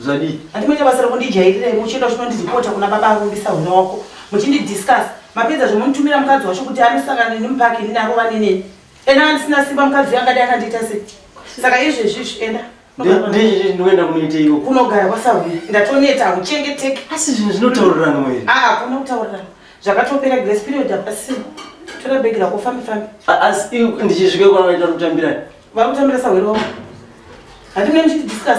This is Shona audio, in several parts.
Zvadii? Handimboita basa rokundijairirai muchienda uchinondizipota kuna baba arumbisa huna wako muchindidiscuss mapedza zvomunitumira mukadzi wacho kuti anosangana neni mupaki nini arova neneni ena andisina simba mukadzi uyo angadai akandiita sei saka izvezvizvi enda ndizvizvi ndinoenda kunoiteiko kunogara kwasahwira ndatoneta hamuchengeteki asi zvinhu zvinotaurirano here aa hakuna kutaurirana zvakatopera grace period hapasina tora bhegi rako fambi fambi asi ndichizvike kwana vaita kutambira vari kutambira sahwira wavo handimune muchitidiscuss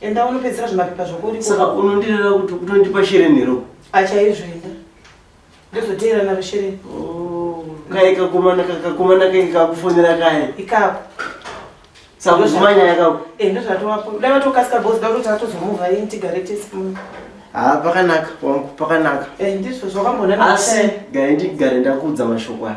Enda unopedzera zvimapepa zvako uri Saka unondirera kuti kutondipa shere nero. Achaizvoenda. Ndozoteera naro shere. Oh, kai kakomana kakomana kai kakufonera kai. Ikako. Saka zvimanya yakako. Eh, ndozvatowapo. Dai vatokasika boss dai kuti atozomova yini tigare tese muno. Ah, pakanaka wangu pakanaka. Eh, ndizvo zvakambonana. Asi dai ndigare ndakuudza mashoko aya.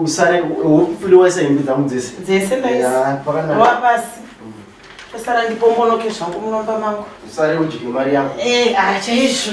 usare wofuli waisa hembe dzangu dzese dzese ndaisawapasi tosara ndipombonoke zvangu munomba mangu usare udye mari yako e ah, chaizvo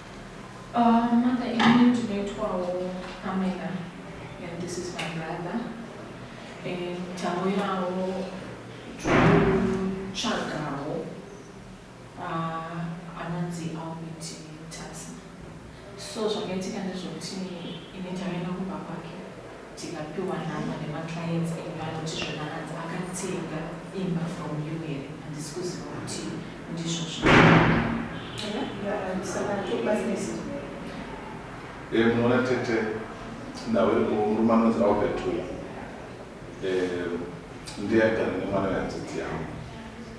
Ahh mother ini ndinoitwawo camera and this is my brother and tauyawo tikutsvagawo ahh anonzi Albert Mutasa so zvakaitika ndezvekuti ini ndaive ndakumba kwake Tikapiwa nhamba nema clients edu anoti zvona hanzi akatenga imba from you here handisi kuziva kuti ndizvo Eh, munoona tete ndau iri murume anonzi albert uya eh, ndiye agara nemwana wehanzvadzi yangu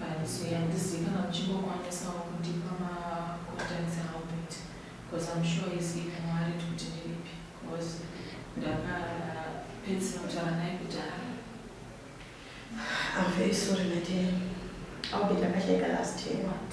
But handizivi kana muchingokwanisawo kundipa ma contacts aAlbert coz I'm sure he's even worried kuti ndiripi coz ndakapedzisira kutaura naye kudhara. I'm very sorry my dear. Albert akashaika last year. What?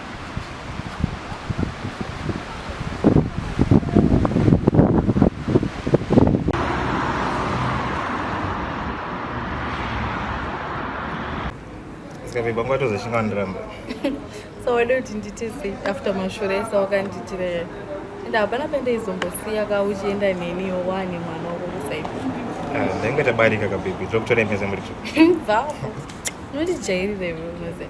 Sikavimba nguva tozoshinga wandiramba. so wade kuti nditise after mashura ese wakanditira yaya and hapana pandaizongosiya ka uchienda neniyo wane mwana wako kusaipo ah, ndaingoita barika kabebi tokutore mese muricho bvavo unondijairira iwe unoziva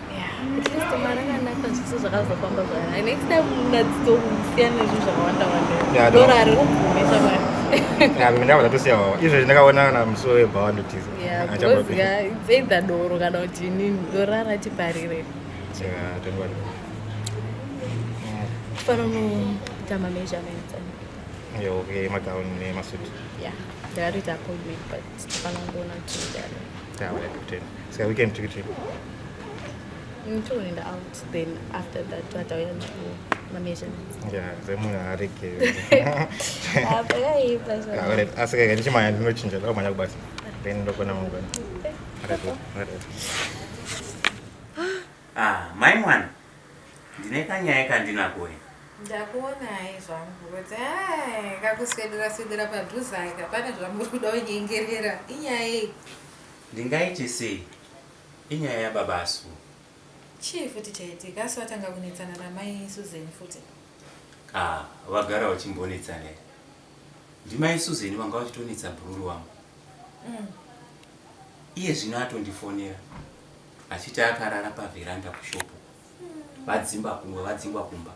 ndakabva ndatosiya wawa izvezvi ndakaona kana musuwo webhawa ndotiza either doro kana kuti inini dorara tiparire fanonoita mameasurements okay magown nemasuit yeah ndakatoita appointment but tifanangoona kuti sika weekend tikiti Ntoenda out then after that twatauya navo mameasurements. Yeah, zemunhu arege. Apa yaipa zvona. Alright, asi kaka ndichimanya ndinochinja ndakumanya kubasa. Then ndokona mangwana. Alright, alright. Ah, mai mwana. Ndine kanyaya kandinako wena. Ndakuona hai zvangu kuti hai kakuswedera swedera padhuze aka pane zvamuri kuda kunyengerera inyaya yei? Ndingaite sei? Inyaya yababa Sue. Chii futi chaitika asi vatanga kunetsana namai Susan futi. Haa vagara vachimbonetsana here. Ndimai Susan vanga vachitonetsa bhururu wangu. Umm. Iye zvino atondifonera achiti akarara paveranda kushop uko. Vadzimba kumba vadzingwa kumba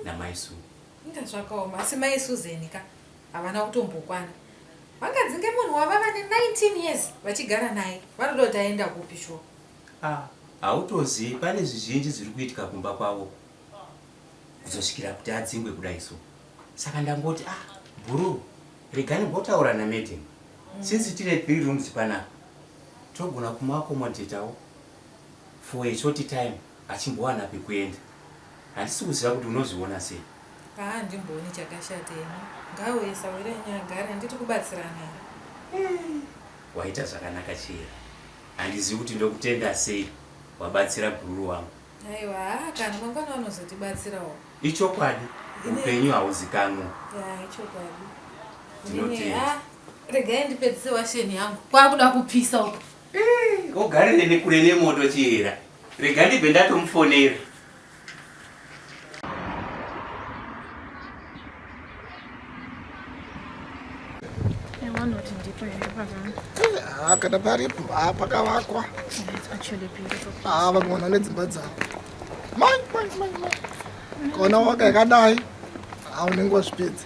namai Sue. Inga zvakaoma asi mai Susan ka. Havana kutombokwana. Vangadzinge munhu wavava ne 19 years vachigara naye. Vanoda kuti aenda kupi shuwa? Ah, hautozivi pane zvizhinji zviri kuitika kumba kwavo kuzosvikira kuti adzingwe kudai so. Saka ndangoti ah, bhuru rega ndimbotaura na madam. Mm. Since tine three rooms panapa togona kumu accommodatawo for a short time achimbowana pekuenda. Handisi kuziva kuti unozviona sei. Haa handimbooni chakashata ini. Ngaauye Sawiranyi agare handiti kubatsirana here. Hey waita zvakanaka Chihera. Handizivi kuti ndokutenda sei wabatsira gururu wangu. Aiwa haa kana mangwana vanozotibatsirawo. Ichokwadi upenyu hauzikanwe. Yaa ichokwadi. Ndinotenda. Regai ndipedzise washeni yangu. Kwakuda kupisa uku. Eh, ogarire nekure nemoto chihera. Rega ndibve ndatomufonera. Ah, kana paripo ah, pakavakwa ah, vamwe vanhu vane dzimba dzavo mai mai mai mai kaona waka yakadai unenge wazvipedza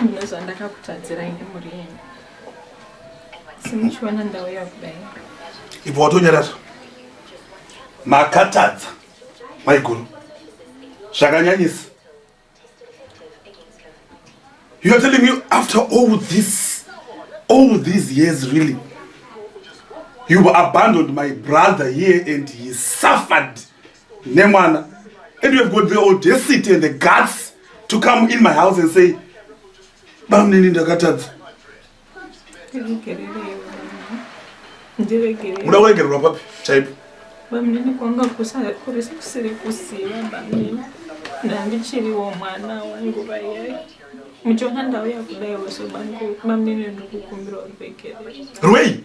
mune zvandakakutadzirai nemhuri yenyu simuchiona ndauya kudai ibva watonyarara makatadza maiguru zvakanyanyisa youare telling me after all this all these years really you abandoned my brother here and he suffered nemwana and you have got the audacity and the guts to come in my house and say bamnini ndakatadza uda kuregererwa papi chaipo bamnini kwanga kurisi kusiri kusiva bamnini ndandichiriwo mwana wanguva yai muchiona ndauya kudaiwo so bamnini ndikukumbirawo ruregerero rwei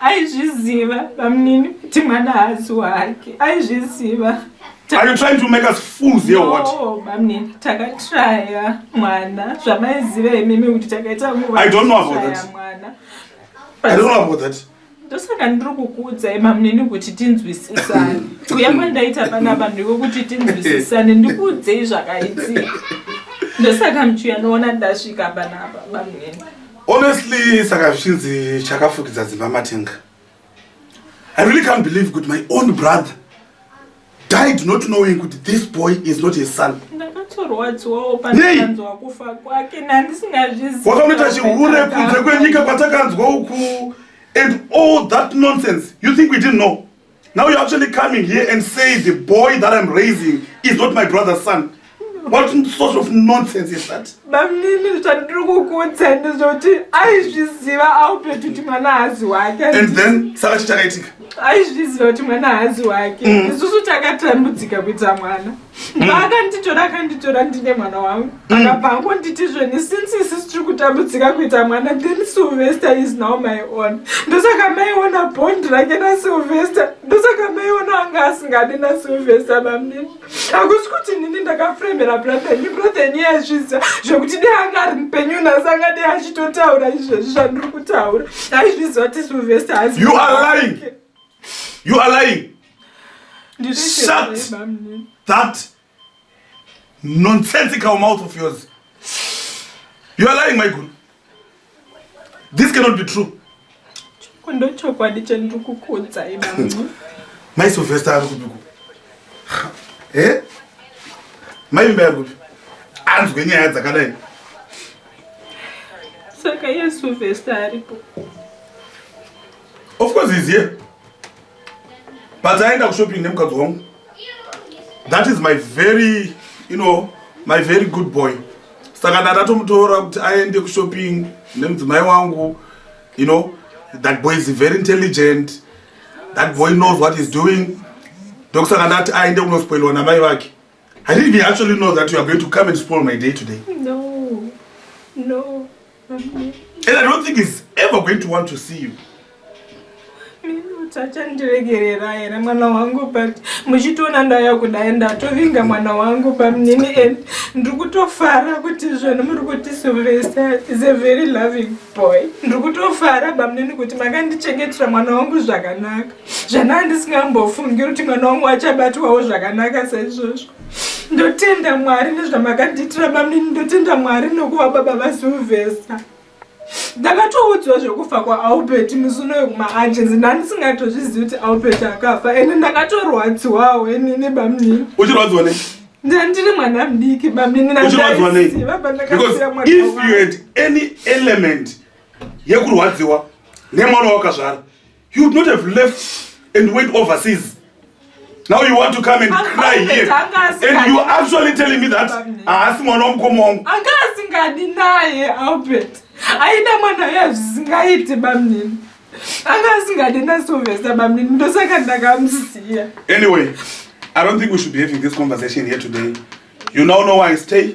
aizviziva bamnini kuti mwana haazi wake aizviziva Are you trying to make us fools here or what? No, bamnini takatraya mwana zvamaiziva imimi kuti takaita nguva I don't know about that. mwana I don't know about that. ndosaka ndiri kukuudzai bamnini kuti tinzwisisane kuya kwandaita pana vanhu ivo kuti tinzwisisane ndikuudzei zvakaitika ndosaka muchiuya noona ndasvika panapa bamnini Honestly, saka zvichinzi chakafukidza dzimba matenga. I really can't believe kuti my own brother died not knowing kuti this boy is not his son. Ndakatorwadziwawo pandakanzwa kufa kwake nandisingazvizivi. Wakanoita chihure kunze kwenyika patakanzwa uku and all that nonsense. You think we didn't know? Now you're actually coming here and say the boy that I'm raising is not my brother's son. What sort of nonsense is that? Bamnini zvandiri kukuudza ndezvekuti aizviziva aupeti kuti mwana hazi wake. And then saka chichakaitika? Aizviziva kuti mwana hazi wake. Mm. Isusu takatambudzika kuita mwana. vaakanditora akanditora ndine mwana wangu mm. akabva angonditi zveni since isisi tiri kutambudzika kuita mwana then silvester is now my own ndosaka maiona bond rake nasilvester ndosaka maiona anga asingadi nasilvester mamnini hakusi kuti nini ndakafremera brothenyu brothenyu yazviziva zvekuti dei anga ari mupenyu nhasi anga dei achitotaura izvezvi zvandiri kutaura aizviziva kuti silvester hazi you are lying shut that nonsensical mouth of yours you are lying maiguru this cannot be true ndochokwadi chendiri kukuudzai bamnci mai sylvester ari kupiko e eh? mai vimba yari kupi anzwe nyaya dzakadai saka iye sylvester aripo Of course he's here. But I end up shopping nemukadzi wangu. That is my very, you know, my very good boy. Saka ndatomutora kuti aende kushopping nemudzimai wangu. You know, that boy is very intelligent. That boy knows what he's doing. Ndokusaka ndati aende kunospoilwa namai vake. I didn't even actually know that you are going to come and spoil my day today. No, no. And I don't think he's ever going to want to see you. tachandiregerera here mwana wangu but muchitoona ndaya kudai ndatovinga mwana wangu pamnini and ndiri kutofara kuti zvinhu muri kuti silvester is a very loving boy ndiri kutofara bamnini kuti makandichengetera mwana wangu zvakanaka zvanaa ndisingambofungiri kuti mwana wangu achabatwawo zvakanaka saizvozvo ndotenda mwari nezvamakandiitira bamnini ndotenda mwari nokuva baba vasilvesta ndakatoudzwa zvekufa kwaalbert musuno wekumaangenzi ndandisingatozvizivi kuti albert akafa ende ndakatorwadziwawo enini bamnini uchirwadziwa nei ndandiri mwana mudiki bamnini uchirwadziwa nei because if you had any element yekurwadziwa nemwana wakazvara You would not have left and went overseas. Now you want to come and cry here. And you actually telling me that haasi mwana wamukoma wangu. Anga asingadi naye Albert. Aida mwana uya zvisingaiti bamnini. Anga asingadi nasovesa bamnini ndosaka ndakamusiya. Anyway, I don't think we should be having this conversation here today. You now know why I stay.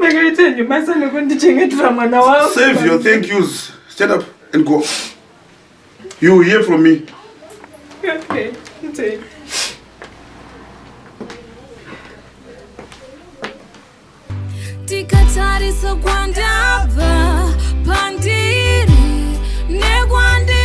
Makaitenyi basa nekundichengetera mwana wako. Save your thank yous. Stand up and go. You will hear from me. Okay. Take. Tikatarisa kwandabva pandiri nekwandiri